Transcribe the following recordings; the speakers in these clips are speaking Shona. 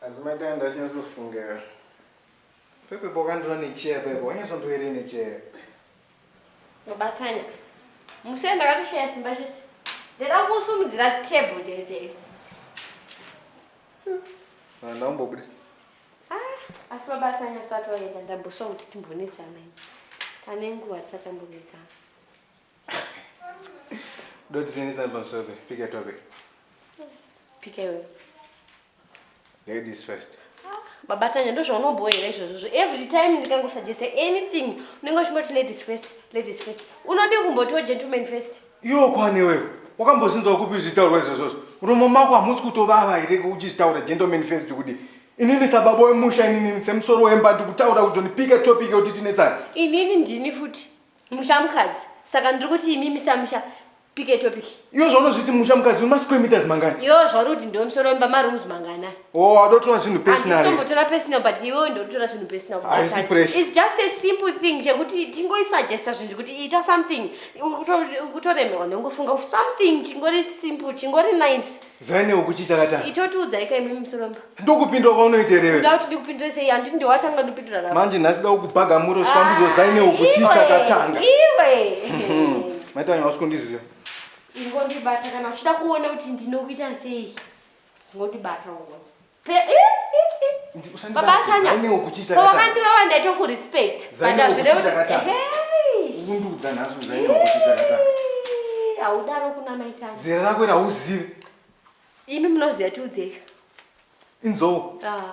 asi maita ndasinyatsofunga pepe pokandira necheya pepe wanyatsotoere necheya mubatanya mushe ndakatoshaya simba chete ndada kusumudzira table chaichei vanhu vaumbobuda ah, asi mabatanya usati waenda ndamboswa kuti timbonetsana tane nguva tisati tambonetsana Doti tenesa pamusoro pe pick a topic. Pick a Ladies first. Ah, baba Tanya ndozvaunobhoira izvozvo. Every time ndikangosuggesta anything unenge uchingoti ladies first, ladies first. Unodii kumbotiwo gentleman first? Iwo kwani wewe? Wakambozvinzwa kupi zvitaurwa izvozvo? Muromo mako hamusi kutovava here uchizvitaura gentleman first kudii? inini sababa wemusha inini semusoro wemba ndikutaura kuti ndipike topic yekuti tinetsana inini ndini futi musha mukadzi saka ndiri kuti imimi samusha pike topic iyo zvaunozviti musha mukadzi une masquare meters mangani yo zvauri kuti ndiwo musoro wemba marooms mangana o auda kutora zvinhu personal handitombotora personal but iwe ndiri kutora zvinhu personal Haisi pressure. its just a simple thing chekuti tingoisuggesta zvinhu zvekuti ita something Ukuto- ukutoremerwa nongofunga something chingori simple chingori nice Zaine ukuchi chakatanga. Icho tiudzai kai mimi musoromba. Ndokupindwa kwaunoita here? Ndau kuti ndikupindure sei handiti ndiwe watanga ndopindura rako. Manje nhasi dakukubhaga muro chikwambidzo ah, Zaine ukuchi chakatanga. Iwe. Mhm. Maitanya wasikundiziva. Ingondibata kana uchida kuona kuti ndinokuita sei. Ngondibata uone. Baba Tanya, pawakandirova ndaitokurespect but hazvirevo kundudza nhasi uzaine wakuchitakataka haudaro kuna maitanga zera rako rauzive imi munoziva tiudzeka inzou ah.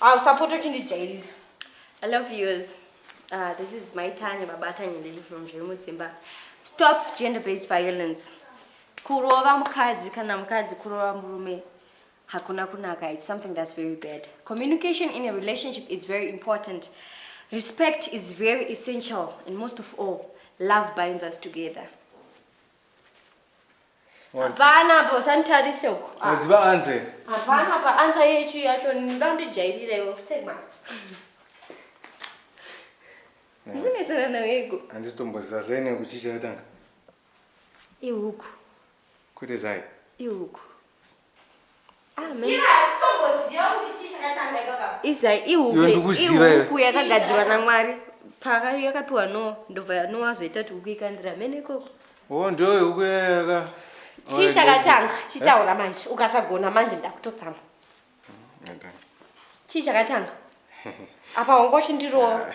Ah, usapota uchindijairira. I love yous. Uh, this is my Tanya Babata Nyeleli from Zvemudzimba. Stop gender-based violence. Kurova mukadzi kana mukadzi kurova murume hakuna kunaka. It's something that's very bad. Communication in a relationship is very important. Respect is very essential and most of all, love binds us together. Hapana apo sanitarise uko. Ah. Unoziva anze? Hapana pa anza yechi yacho ndoda ndijairire iwe sema. Mune tsara na wego. Andisi tomboziva zene kuchicha yatanga. Ihuku. Kuti zai. Ihuku. izai ihuku yakagadzirwa namwari paka yakapiwa no ndobva yanowa zoita kuti huku ikandira mene ikoko o ndoyo huku yayaka chii chakatanga chitaura eh? manje ukasagona manje ndakutotsamwa mm, chii chakatanga apa hongochi ndirowa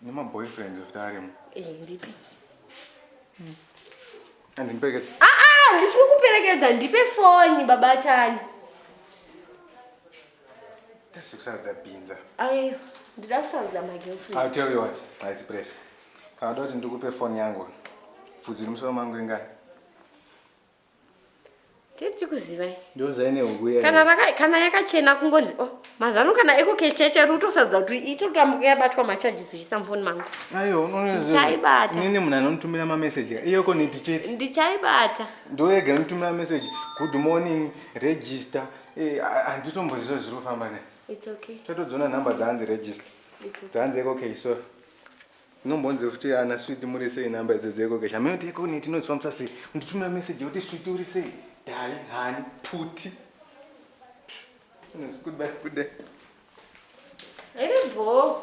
Nema boyfriends of Darem. Eh, ndipe. Hmm. And in Perkins. Ah ah, this will kuperekedza ndipe phone baba Tani. That's kusarudza binza. Ayo, ndida kusarudza my girlfriend. I'll tell you what, my pressure. Kana kuti ndikupe phone yangu. Pfudzi musoro mangu ringani. tichikuzivai ndouzai nehuku iya kana raka kana yakachena kungonzi oh mazuva ano kana eko cash chaicho iri kutosadza kuti itotambuka yabatwa macharges uchisa mufoni mangu aiwa unoziva Ndichaibata. nini munhu anonitumira mameseji iyoko niti chete ndichaibata ndoega anotumira meseji good morning register Eh, ha- handitomboziva zviri kufamba ne its okay tatodziona nhamba dzaanzi register its okay dzaanzi eko okay so Inombonzi futi ana sweet muri sei number idzo dzeko kesha meo teko ne tinozifambisa sei unditumira message yoti sweet uri sei dai hani puti Yes, goodbye, good day. Ele bom.